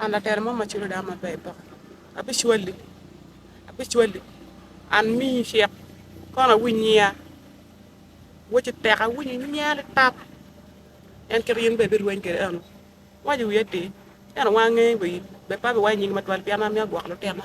An latera mo ma culo dano maber poko. Abicwali, abicwali, an miyi cik, kono awiny nyiya. Woci tek awinyo nyiya litap. En kit in bene ibirweny kwede eno. Iwaco i wiye atir, ento wan angeyo wa in. Bed pe abiwaco nyingi matwal pien an myero agwok lutina.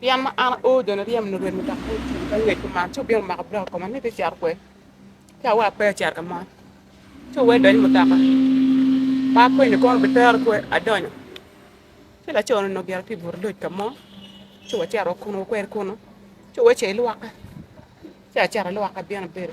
Pien ma an aor jo niryem nurwed mutoka me ceng me ngwec kuman, ci wubino mako bulok i koma ni, 'Bicito kwede, ci awac, 'Pe acito ka mo. Ci wuwek idonyo i mutoka, ma apenyo ni, 'Kono wubitero kwo? Adonyo. Ci laco-ni onongo gire tye i but loc ka mo, ci wacito wa kunnu, wakwero kunnu, ci owece ilwokke, ci acito alwokke, abino abedo.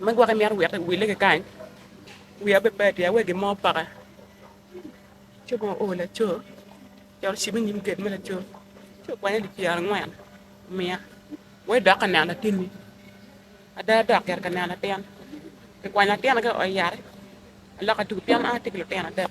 Me gwok imito wek iwille ki kany, wiya bene pe atir awe gin mo opaka ci onongo oo laco ci dok ocibo i nyim gate me laco ci okwanya dye pyere angwen omiya wek idok ka neno latinni ada dok gire ka neno latin kikwanya latin-ni kaka oa yat alok aducu pien an atye ki lutino adek.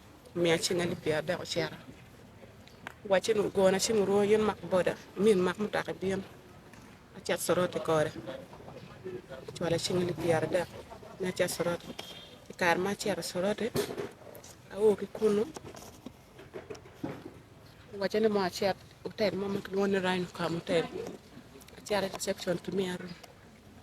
Omiya cing alip pyerardek ocito. Owacci ni ogona ci murwo in mak boda, imi imak mutoka ibin. Acit Soroti kore. Ocwala cing alip pyerardek ni acit Soroti. I kare ma acito Soroti, ao ki kunu, owacca ni mondo acit otel mo ma kilwongo ni Rhino Cam Hotel. Acito i reception kimiya rum.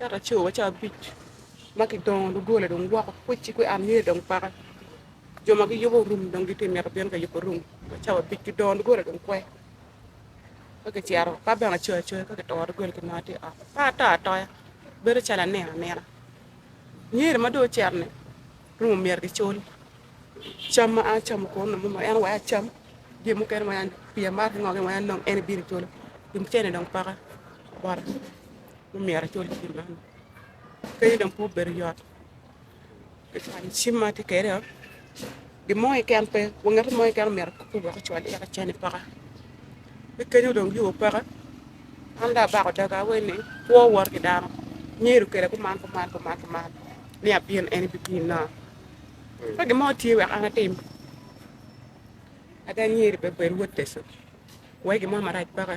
Eka co wa ca abic ma ki dongo doggola dong gwoko kweci kwe an myero dong paka jo ma gi yubo rum dong gitye mito bino ka yubo rum wa ca abic ki dongo doggola dong kwe ka ki cito ka bene acoya acoya ka ki toro doggola ki nongo atye oko ka ato atoya bedo calo anino anina myero ma dong ocito ni rum omyero ki cul cam ma an acamo kono nongo mono en oweko acam jami mukene weng an pi amato ki ngo gin weng an nongo en bino culu pi cene dong paka bota. myero acul cim man kadi dong pe obedo yot kacwalo cim ma atye kwede-o gin mo keken pe wa ngat mo keken omyero akupe wek ocwal yat acene paka ki kenyo dong yo peke an dong abako daga awaci ni kwo wot ki dano nyedo kwede kuman kuman kuman kuman ni abino en bibinna ka gin mo tye wek an atim ada nyedo pe bed wot Yecu wek gin mo marac peke.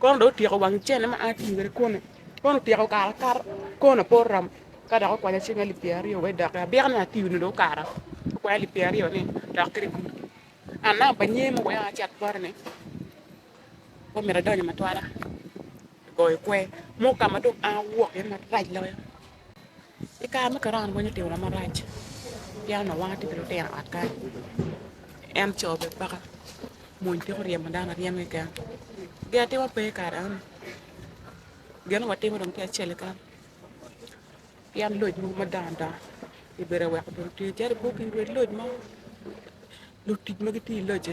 Kono dong otyeko wang cene ma an atye kwede kunu, kono otyeko kare akata, konona pe oromo ka dok okwanya cing alip pyeraryo wai doki, abika ni atiyo ni dong okara, okwanya alip pyeraryo ni dok kede gudo, an namba pa nyer ma oweya acat bota ni pe omyero adony i matwala, goyo kwer mo ka ma dong an awok iye marac loyo. I kare me korona pwony otimwa marac pien onongo wan watye ki lutino i ot kany en co bene peko mony peko ryemo dano aryema keken gin atima pe i kare eno gin onongo watimo dong tye acel keken pien loc mogo madongo dongo obedo aweko obedo otweyo calo i boggi wek loc mo lutic ma gitye i loc-ci.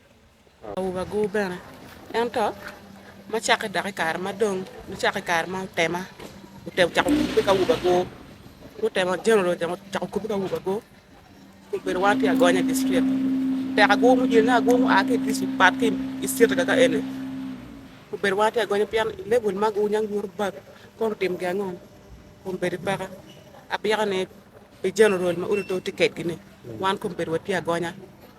Awobi agur bene. Ento, ma cakke dok i kare ma dong, ma cakke i kare ma otema otemo ocako kubbe ki awobi agur, gutemo general otemo cako kubbe ki awobi agur, obedo wan tye agonya i distrik. Tek agur ma oyeyo ni agur mu a ki i distrik pat ki i city kaka ka eni, obedo wan tye agonya pien i level ma agur nyang nyuto bad kono otim gi ango kun bedo i peka. Apiko ni pi general ma odi to tye kedgi ni, wan kong obedo watye agonya.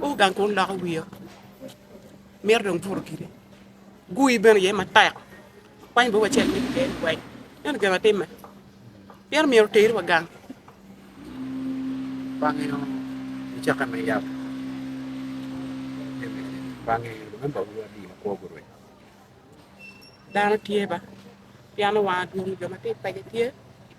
Gu gang kun loko wiya, mito dong buto giri. Gui bene iye matek, akwany bot wacel me iye liweny. Ento gin atimme, pien omyero oteri wa gang. Bange mucakke me yab, bange lumemba uru adi ma kwogi orweny. Dano tye ba, pien owang adwong jo ma tye i paco tye.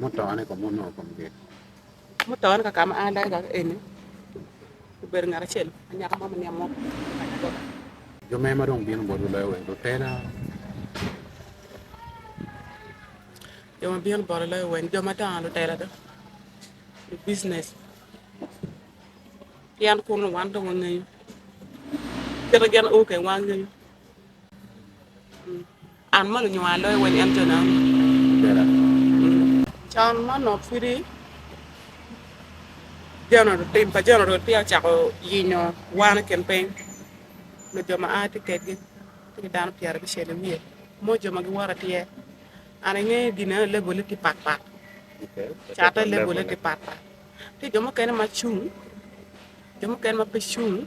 Mutone kong wunongo kong nge? Mutone ka ma an dayo kaka eni, obedo ngat acel anyaka mo ma niang mo kanya kota. Jo me ma dong bino botwu loyo wer lutela? Jo ma bino botwa loyo wer jo madongo lutela dong lubucines pien kunu wan dong wangeyo kit ma gin oo keng wangeyo. An mono onyo aa loyo weny ento nani. Can mono pudi tim pa general peya ocako yinyo wan i kin piny nyo jo ma aa tye kedgi tye ki dano pyera abicel i wiye mo jo ma giwoto atir. An ange gine ni level ne tye pat pat cate level ne tye pat pat tye jo mukene ma cung jo mukene ma pe cung.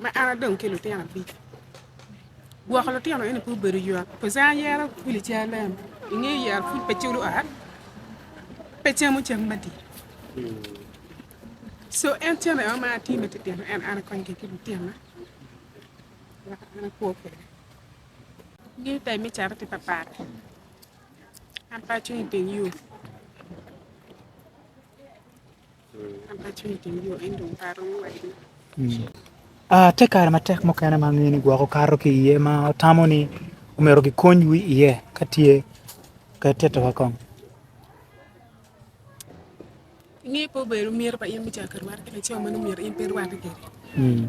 Ma an adong ki lutino abic. Gwoko lutino eni pe obedo ywak cos an ayero kwili ci alem. Inge yero pud pe culo ot, pe camo cam madit. So en cen aye ma atye me titino en an akony ki lutina wek an akwo kwede. Ngeyo tayi me cat tye papat. An pe acung iteng yo. Ah, tye kare matek mukene ma angeyo ni gwoko kato ki iye ma watamo ni omyero gikonywu iye ka tye. Ket tito wa kong. Inge pe obedo myero pa in me cako ki rwate ki laco ma nongo myero in pe irwate kwede. Mm.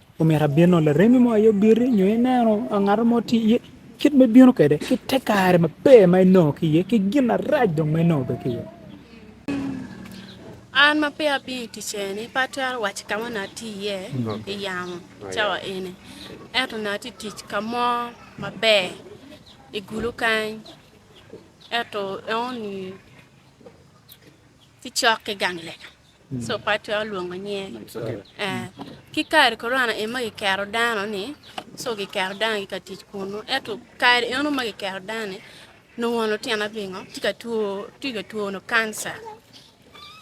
Omyero abino laremi mo aye obiti nyo ineno ngat mo tye iye kit ma ibino kwede ki te kare maber ma inongo ki iye ki gin marac dong ma inongo bene ki iye. An ma peya abino i tic eni pe atwero waco ka ma onongo atye iye i yamo cawa eni ento onongo atye ka tic ka mo maber i gulu kany ento enoni ki cok ki gang lega. Sopater olwongo nyinge. Ee, ki kare Korona en ma kiketo dano ni co kiketo dano gitye ka tic kunnu. Ento kare eno ma kiketo dano ni nongo wa lutino pingo tye ka two tye ka two nongo kanca.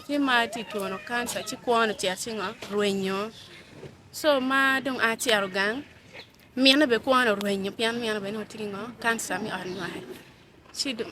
Ki ma tye ka two nongo kanca ci kwo ni ocito ci ngo rwenyo. Co ma dong a cito gang mine bene kwo ni orwenyo pien mine bene nongo tye ki ngo kanca me ot nywal ci dong.